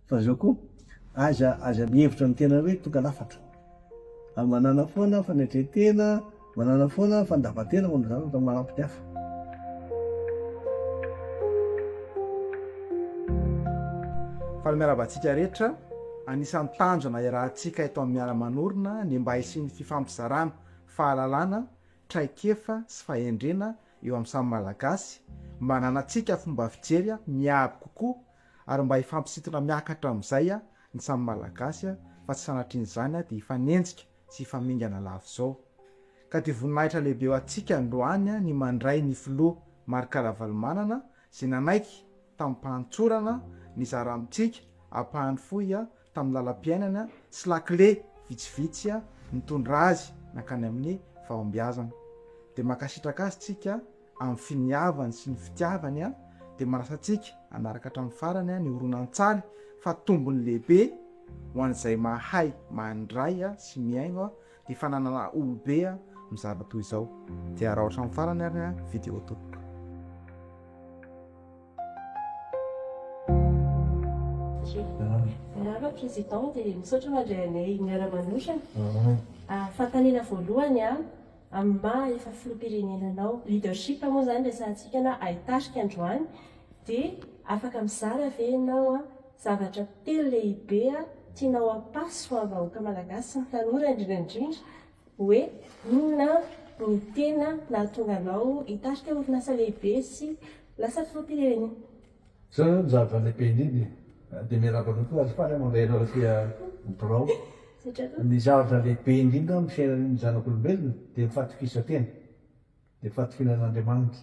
Fa zao koa, aza aza mihevitra ny tena hoe tonga lafatra. Ary manàna foana fanetren-tena, manàna foana fandavan-tena momba ny zavatra manampy ny hafa. Faly miarahaba antsika rehetra. Anisan'ny tanjona iarahantsika eto amin'ny Miara-manorina ny mba hisian'ny fifampizarana fahalalana, traikefa sy fahendrena eo amin'ny samy Malagasy, mba hananantsika fomba fijery miabo kokoa ary mba hifampisintona miakatra amin'izay ny samy Malagasy fa tsy sanatrian'izany dia hifanenjika sy hifamingana lava izao. Ka dia voninahitra lehibe ho antsika androany ny mandray ny Filoha Marc Ravalomanana izay nanaiky tamim-pahantsorana nizara amintsika ampahany fohy tamin'ny lalam-piainana sy lakile vitsivitsy nitondra azy nankany amin'ny fahombiazana. Dia mankasitraka azy tsika amin'ny finiavany sy ny fitiavany dia manasa antsika hanaraka hatramin'ny farany ny horonantsaly fa tombony lehibe ho an'izay mahay mandray sy mihaino Ny fananana olobe mizara toy izao dia araho hatramin'ny farany ary ny video tompoko. Miarahaba Président dia misaotra mandray anay miara manohitra. Fanontaniana voalohany amin'ny maha efa Filoham-pirenena anao, leadership moa izany resahantsika na haitarika androany dia afaka mizara ve ianao Zavatra telo lehibe tianao hampaso amin'ny vahoaka malagasy sy ny tanora indrindra indrindra hoe inona no tena nahatonga anao hitarika orinasa lehibe sy lasa filoham-pirenena? Izao izao ny zava-lehibe indrindra e! Dia miarahaba anao koa azo faly aho mandray anao aty amin'ny birao. Ny zavatra lehibe indrindra eo amin'ny fiainan'ny zanak'olombelona dia ny fahatokisan-tena, dia ny fahatokiana an'Andriamanitra.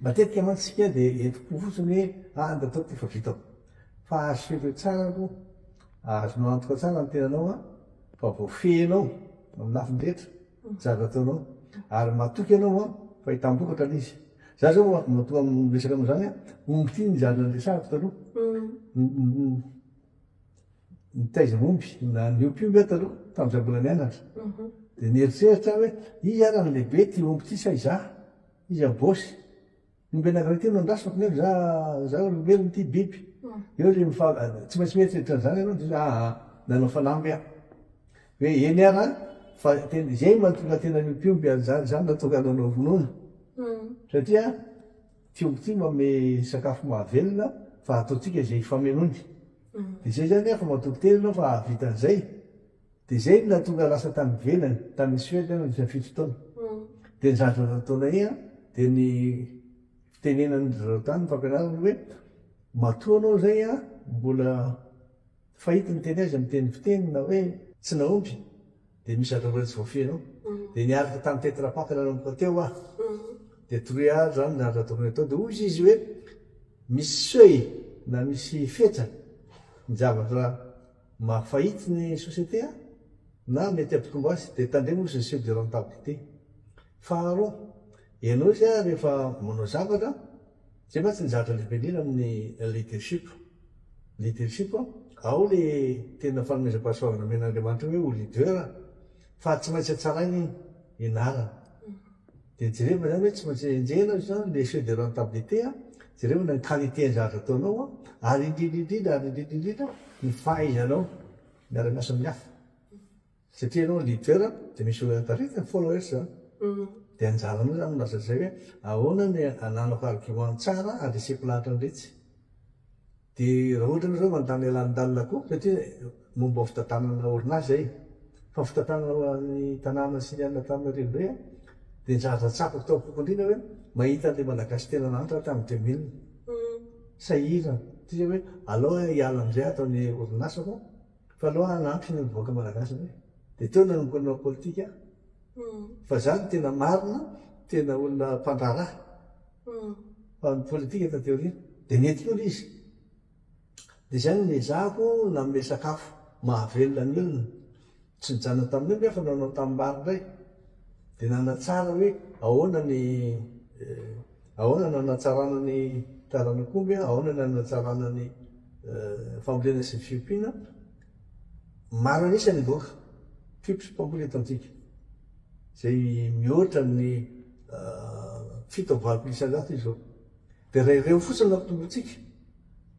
Matetika mantsy isika dia entim-po fotsiny hoe ah ny tataoko dia efa vitako. Fa assurer tsara aloha, azonao antoka tsara ny tenanao an, fa voafehinao amin'ny lafiny rehetra ny zavatra ataonao. Ary matoky ianao an, fa hitam-bokatra ilay izy. Za zao oa, matoa miresaka amin'izany an, omby ity ny zana niresahako taloha. Nitaiza omby, na niompy omby aho taloha, tamin'izaho mbola nianatra. Dia nieritreritra aho hoe, iza ary no lehibe, ity omby ity sa izaho? Iza bossy? Ny ombiana grec ity no andrasako nefa za za olombelona ity biby. Eo le mifa tsy maintsy mieritreritra an'izany ianao de hoe aa nanao fanamby aho. Hoe eny ara an, fa tena izay no mahatonga ny tenan'ny mpiompy an'izany, izany no mahatonga anao hanao vonoana. Satria ity omby ity manome sakafo mahavelona fa ataontsika izay hifamenoany. Dia izay izany an, fa matoky tena ianao fa hahavita an'izay. Dia izay no nahatonga lasa tany ivelany, tany Suède aho nandritra ny fito taona. Dia ny zandriny taona iny an, dia ny fitenenan'ny drazao tany, ny fampianarany hoe, matoa ianao izay an, mbola fahita ny teny azy amin'ny teny fiteny na hoe tsy nahomby, dia misy zavatra mbola tsy voafehy anao. Dia niaraka tamin'ny tetra pak nanomboka teo aho. Dia toroy ahy izany ny zavatra tokony hatao. Dia hoy izy hoe, misy seuil na misy fetra ny zavatra. Mahafahit ny société a! Na mety ampitombò azy de tandremo ozy ny seuil de rentabilité. Faharoa, ianao zay a rehefa manao zavatra, zay mantsy ny zavatra lehibe indrindra amin'ny leadership. Leadership a, ao le tena fanomezam-pahasoavana omen'Andriamanitra hoe ho leader a, fa tsy maintsy hatsaraina iny ianarana. Dia jereo izany hoe tsy maintsy enjehina izany le effet de rentabilité a, jereo ny qualité ny zavatra ataonao a, ary indrindra indrindra ary indrindra indrindra ny fahaizanao miara miasa amin'ny hafa, satria ianao leader dia misy olona taritina ny followers a, dia anjaranao izany no lasa izay hoe ahoana ny ananako argument tsara handreseko lahatra an'iretsy. Dia raha ohatra nareo mandany alanindalina koa satria momba fitantanana orinasa izay fa fitantanana ny tanàna sy ny alina tamin'ny renivohitra dia ny zavatra tsapako tao am-poko indrindra hoe mahita an'ilay Malagasy tena nahantra tamin'ny deux mille sahirana satria hoe aleo aho hiala amin'izay ato ny orinasako fa aleo aho hanampy ny vahoaka Malagasy indray dia teo no nanomboka ny nanao politika aho fa izaho no tena marina tena olona mpandraharaha mpanao politika taty aoriana dia nety lolo izy dia izay no niezahako nanome sakafo mahavelona ny olona tsy nijanona tamin'io nefa nanao tanimbary indray dia nanatsara hoe ahoana ny ahoana ny hanatsarana ny taranak'omby ahoana ny hanatsarana ny fambolena sy ny fiompiana Maro an'isa ny boky, tips pour mbola eto antsika, izay mihoatra ny fito amby valopolo isan-jato izao. Dia raha ireo fotsiny no ampitombointsika,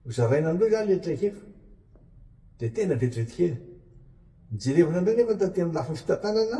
ho zaraina amin'ireo izany ilay traikefa, dia tena vetivety kely. Jerevana indray nefa ny taty amin'ny lafiny fitantanana,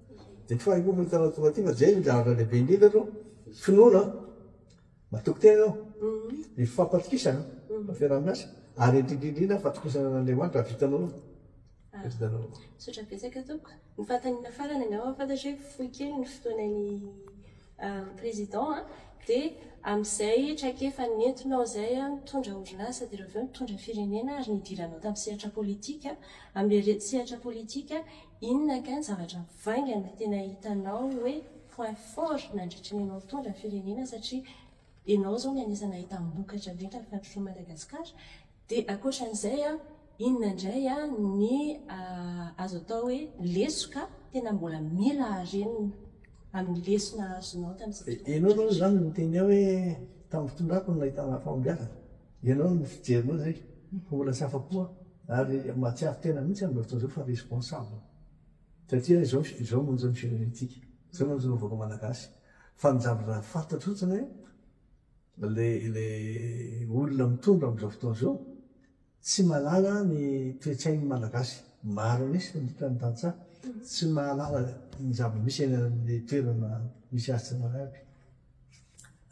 Dia tsy faly koa fa hitanao tonga aty fa zay no zavatra lehibe indrindra aloha, finoana, matoky tena ianao, ny fifampatokisana, ny fiaraha-miasa, ary indrindra indrindra ny fatokisana an'Andriamanitra hahavitanao anao. Hahavitanao anao. Misaotra betsaka tompoko. Ny fanontaniana farany angamba fantatro hoe fohy kely ny fotoanan'ny président a, dia amin'izay traikefa nentinao izay nitondra orinasa dia ireo avy eo nitondra firenena ary nidiranao tamin'ny sehatra politika, amin'ilay sehatra politika, Inona kay ny zavatra vainga no tena hitanao hoe point fort nandritra ny anao nitondra firenena satria enao zao no anisany nahitam-bokatra be tamin'ny fandrosoan'i Madagasikara dia ankoatran'izay an inona indray ny azo atao hoe lesoka tena mbola mila harenina amin'ny lesona azonao tamin'izay fotoana izay. Enao aloha izany miteny hoe tamin'ny fitondrako no nahitana fahombiazana. Ianao no fijerinao izay fa mbola tsy afa-po aho ary mahatsiaro tena mihitsy aho amin'izao fotoana izao fa responsable satria izao izao no anjara firenentsika, izao no anjara vahoaka malagasy fa ny zavatra fantatro fotsiny hoe ilay ilay olona mitondra amin'izao fotoana izao tsy mahalala ny toe-tsain'ny malagasy, maro an'isa ny otrik'izany ny tantsaha tsy mahalala ny zava-misy eny amin'ny toerana misy azy tsirairay avy.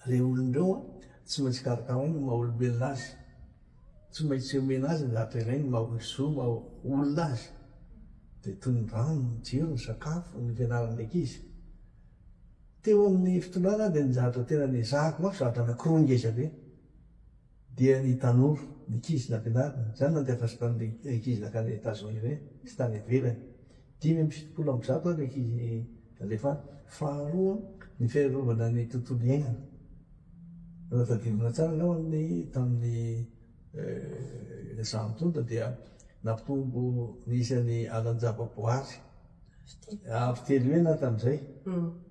Reo olona reo an, tsy maintsy karakaraina ny maha olombelona azy, tsy maintsy omena azy ny zavatra ilainy ny maha zo maha olona azy, dia toy ny rano, ny jiro, ny sakafo, ny fianarana ny ankizy. Teo amin'ny fitondrana aho dia ny zavatra tena niezahako mafy zavatra anakiroa ngezabe. Dia ny tanora, ny ankizy nampianarina, izany nandeha avy tany le ankizy nankany Etazonia ireny sy tany ivelany. Dimy amby fitopolo amby zato ary le ankizy nalefa any. Faharoa, ny fiarovana ny tontolo iainana. Raha tadidina tsara angamba ny tamin'ny izaho nitondra dia nampitombo ny isan'ny alan-javaboary avo telo heny aho tamin'izay.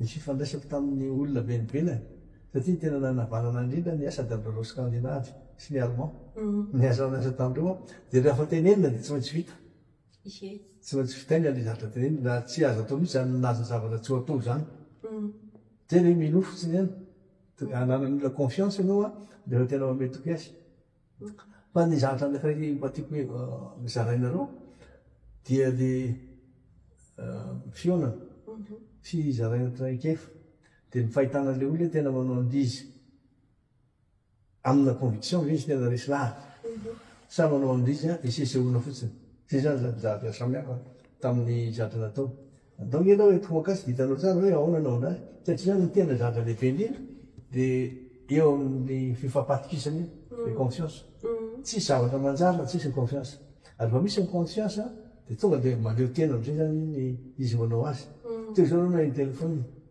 Ny fifandraisako tamin'ny olona be nivelany, satria ny tena nanavanana indrindra ny asa dia amin'ireo Skandinavy sy ny Allemand niasa niasa tamin'ireo aho. Dia rehefa tenenina dia tsy maintsy vita. Tsy maintsy vitaina ilay zavatra tenenina raha tsy azo atao mihitsy izany milaza zavatra tsy ho atao izany. Dia hoe minoa fotsiny ihany. Ananan'ny olona confiance ianao an, dia efa tena mamehy tokisy. Fa ny zavatra anankiray mba tiako hoe zarainareo dia le fihaonana sy zaraina traikefa dia ny fahitana le olona tena manao andizy amina conviction ve izy tena resy lahatra sa manao andizy hisesehoana fotsiny. Zay zany zany zavatra samihafa tamin'ny zatra natao. Atao nge aloha hoe tomokas dia hitanao tsara hoe aona no aona satria ny tena zava dehibe indrindra dia eo amin'ny fifampatokisana iny ny confiance tsisy zavatra manjary raha tsisy ny confiance ary vao misy ny confiance dia tonga dia maleo tena amizay zany izy manao azy toy izao aloha na eny telephone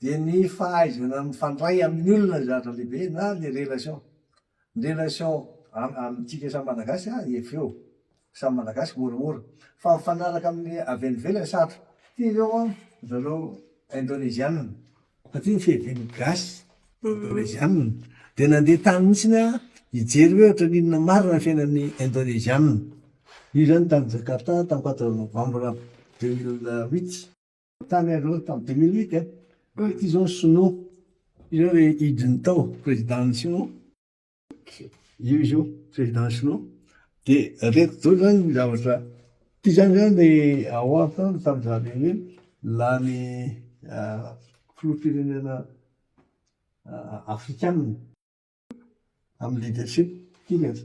dia ny fahaizana mifandray amin'ny olona ny zavatra lehibe na le relation ny relation amintsika samy malagasy a efa eo samy malagasy moramora fa mifanaraka amin'ny avy any ivelany sarotra ty zao a ry zareo indonezianina fa ty ny fihevian'ny gasy indonezianina dia nandeha tany mihitsiny aho hijery hoe ohatran'ny inona marina ny fiainan'ny indonezianina io zany tany jakarta tany quatre novembre deux mille huit Tany aloha tamin'ny deux mille huit an, ity izao ny sinoa, izao ilay hidiny tao président-n'ny sinoa, io izy io président sinoa, dia ireto daholo izany ny zavatra, ity izany izao ilay ao an tany tamin'izany hoe lany filoham-pirenena afrikanina amin'ny leadership, ity ireto.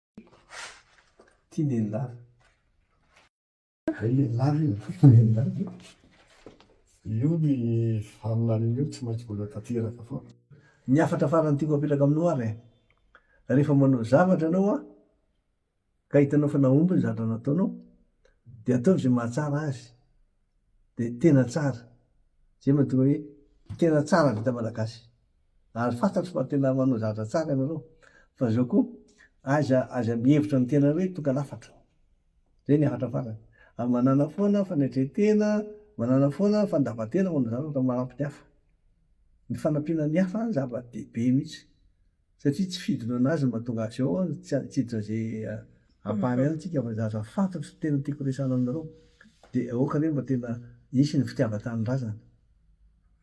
Tia nenilava. Ray nenilava io, tia nenilava io. Io ny faminaniana io tsy maintsy mbola tanteraka foana. Ny hafatra farany tiako apetraka aminao ary an, rehefa manao zavatra ianao an, ka hitanao fa nahomby ny zavatra nataonao, dia ataovy izay mahatsara azy, dia tena tsara, izay mahatonga hoe tena tsara vita malagasy. Ary fantatro fa tena manao zavatra tsara ianareo. Fa zao koa, aiza aiza mihevitra ny tenany hoe tonga lafatra. Zay ny hafatra farany. Ary manana foana fanetren-tena, manana foana fandavan-tena manao zavatra manampy ny hafa. Ny fanampiana ny hafa zava-dehibe mihitsy. Satria tsy fidonana azy no mahatonga azy eo an, tsy hitsidina izay ampahany ihany tsika fa zavatra fantatro no tena tiako resahana aminareo. Dia aoka anie mba tena hisy ny fitiavan-tanindrazana.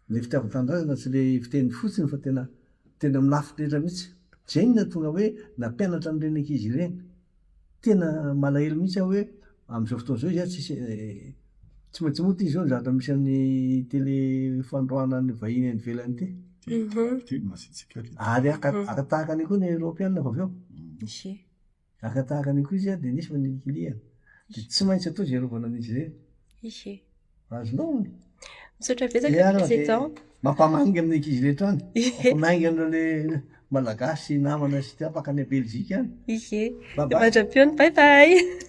Ilay fitiavan'ny tanindrazana tsy ilay fiteny fotsiny fa tena teny amin'ny lafy rehetra mihitsy. Izay no nahatonga hoe nampianatra an'ireny ankizy ireny. Tena malahelo mihitsy aho hoe amin'izao fotoana izao izy ary tsisy tsy maintsy moa ity izao ny zavatra misy an'ny tele fanondroana ny vahiny any ivelany ity. Teny teny masitsika ry. Ary haka haka tahaka an'io koa ny Eoropeana vao avy eo. Ise. Araka tahaka an'io koa izy dia nisy hoy ny kiliany, dia tsy maintsy atao izay arovana an'izy ireny. Ishe. Azonao ny. Misaotra betsaka Dia arona dia président. mampamangy amin'ny ankizy rehetra any. Mampamangy an'ireo le malagasy sy namana sy tapaka any Belgique any. Ishe. Bye bye. Mandra-pihaona. Bye bye.